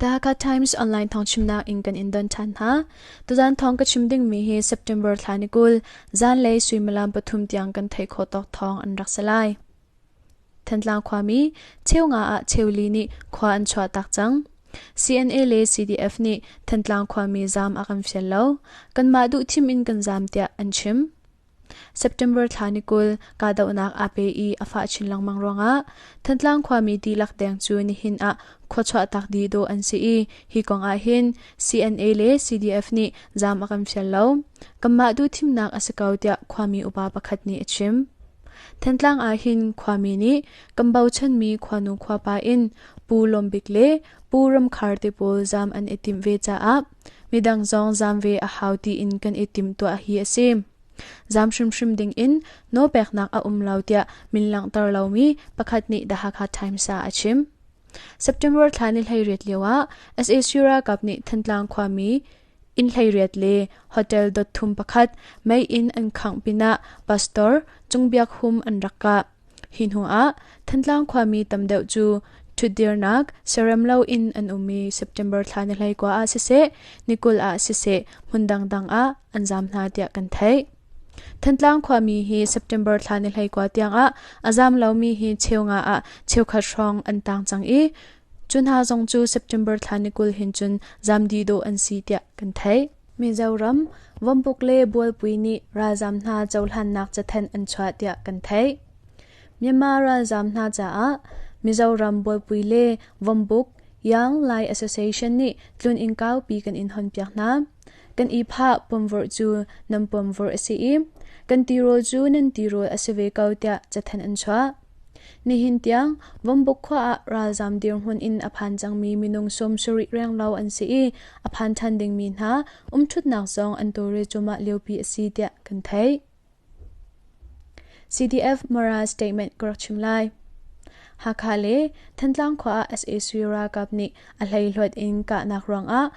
Dhaka Times online thong chimnak in kan in don than ha. Tuzan thong ka chim ding mi hi September thla ni kul zan lei suimalam pathum tiang kan thei kho tok thong an rak salai. Thantlang khwa mi cheu nga a cheu li ni khwa an chwa tak chang. CNA le CDF ni Thantlang khwa mi zam a kan fian lo. Kan ma du thim in kan zam tia an chim. September thla ni kul kahdohnak aa pe i a fah chin lengmang ruangah Thantlang khuami dihlak deng cu nihin ah khua chuahtak dih dawh an si i hi kong ah hin CNA le CDF nih zaam a kan fial lo. Kanmah duh thimnak a si ko tiah khuami upa pakhat nih a chim. Thantlang ah hin khuami nih kan bochanmi khuanu khuapa in Pu Lawm Bik le Pu Ram Khar te pawl zaam an i timh ve caah Midang zong zam ve a hau tiin kan i timtuah hi a si. Zam hrimhrim ding in nawlpeknak a um lo tiah min langhter lomi pakhat nih The Hakha Times ah a chim. September thla ni hleiriat lio ah sac ralkap nih Thantlang khuami inn hleiriat le hotel dot thum pakhat mei in an khangh pinah pastor cung biak hum an rak kah. Hi hnuah Thantlang khuami tam deuh cu ṭhutdirnak siarem loin an um i September thla ni hleikua ah siseh, ni kul ah siseh hmun dangdang ah an zaam hna tiah kan theih. Thantlang khuami hi September thla ni hleikua tiangah a zaam lomi hi cheu nga ah cheukhat hrawng an tang cang i cu hna zong cu September thla ni kul hin cun zaam dih dawh an si tiah kan theih. Mizoram Vawmpuk le Bualpui nih ralzaam hna cohlannak cathenh an chuah tiah kan theih. Myanmar ralzaam hna caah Mizoram Bualpui le Vawmpuk Young Lai Association nih tlun inn kaupi kan in honpiak hna. Kan i phah pomvorh cu nan pomvorh a si i kan tirawl cu nan tirawl a si ve ko tiah cathenh an chuah. Nihin tiang Vombook khua ah ralzaam dirhmun in a phan cangmi minung sum sarih reng lo an si i a phan ṭhan dingmi hna umṭhutnak zong an tawlre cuahmah liopi a si tiah kan theih. CDF Mara statement ka rak chim lai. Hakha le Thantlang khua ah sac ralkap nih a hleihluat in kahnak ruangah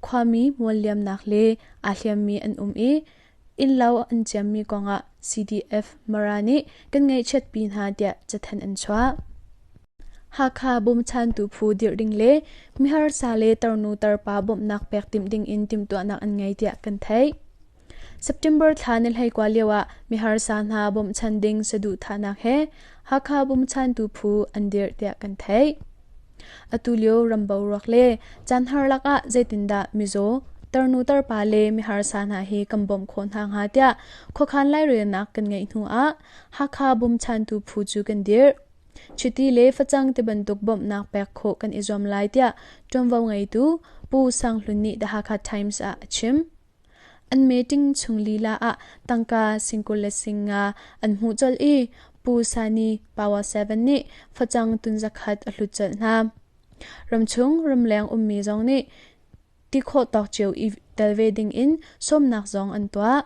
khuami mual liamnak le aa hliammi an um i Innlo an ciammi kongah CDF Mara nih kan ngaihchiatpi hna tiah cathanh an chuah. Hakha bawmchantu phu dirh ding le miharsa le tarnu tarpa bawmhnak pek timh dingin timhtuahnak an ngei tiah kan theih. September thla na hleikua lioah miharsa hna bawmchan ding saduhthahnak he Hakha bawmchantu phu an dirh tiah kan theih. Atulio ram boruak le caanhar lakah zeitindah mizaw, tarnu tarpa le miharsa hna he kan bawmh khawh hna hnga tiah khuakhan lairelnak kan ngeih hnu ah Hakha bawmchantu phu cu kan dirh. Chiti le facang ti bantuk bawmhnak pek khawh kan i zuam lai tiah ṭuanvo ngeitu Pu Sang Hlun nih The Hakha Times ah a chim. An meeting chung lila ah tangka singkul le sing nga an hmuh colh i Pu Sani Power 7 nih facang tunzakhat a hlut colh hna. Ramchung ramleng ummi zong nih ti khawh tawk cio i tel ve ding in sawmnak zong an tuah.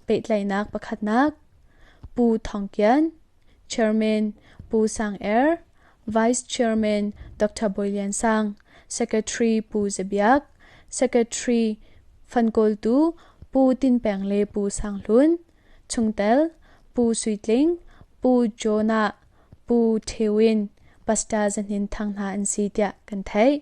Pehtlaihnak pakhatnak Pu Thawng Kian Chairman Pu Sang Er, Vice Chairman Dr. Bawi Lian Sang, Secretary Pu Za Biak, Secretary Fan Kawl Tu, Pu Tin Peng le Pu Sang Hlun, chungtel Pu Sui Tling, Pu Jonah, Pu Ṭhewin, Pastor Za Hnin Thang hna an si tiah kan theih.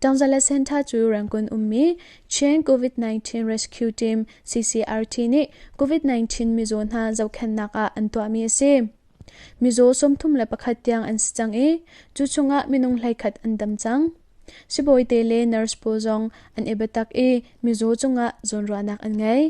Tangzala Center cu Rangoon ummi Chin COVID-19 Rescue Team CCRT nih COVID-19 mizaw hna zohkhennak ah an tuahmi a si. Mizaw sawmthum le pakhat tiang an si cang i cu chungah minung hleikhat an dam cang. Sibawite le nurse pawl zong an i biatak i mizaw cungah zawnruahnak an ngei.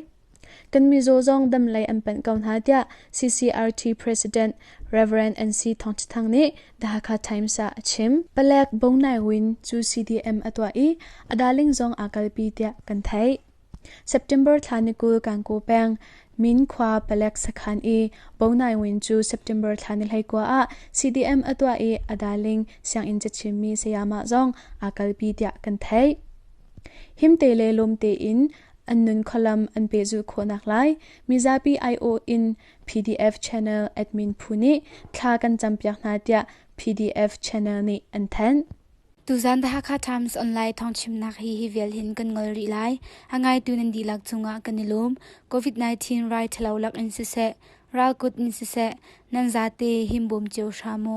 Kan mizaw zong dam lei an panh ko hna tiah CCRT President Rev. NC Thawng Ṭha Thang nih The Hakha Times ah a chim. Palek Bo Nai Win cu CDM a tuah i a daling zong aa kalpi tiah kan theih. September thla ni kul Kankaw peng Min khua palek sakhan i Bo Nai Win cu September thla ni hleikua ah CDM a tuah i a daling sianginn cachimmi sayama zong aa kalpi tiah kan theih. Himte le lawmte in an nun khualam an pehzulh khawhnak lai mizapi aiawh in PDF channel admin phu nih thla kan campiak hna tiah PDF channel nih an thanh. Tuzan The Hakha Times online thawngchimnak hi hi vial hin kan ngol rih lai. A ngaitu nan dihlak cungah kan i lum. COVID-19 rai thalo lak in siseh, ralkut in siseh, nan zate himbom cio hramu.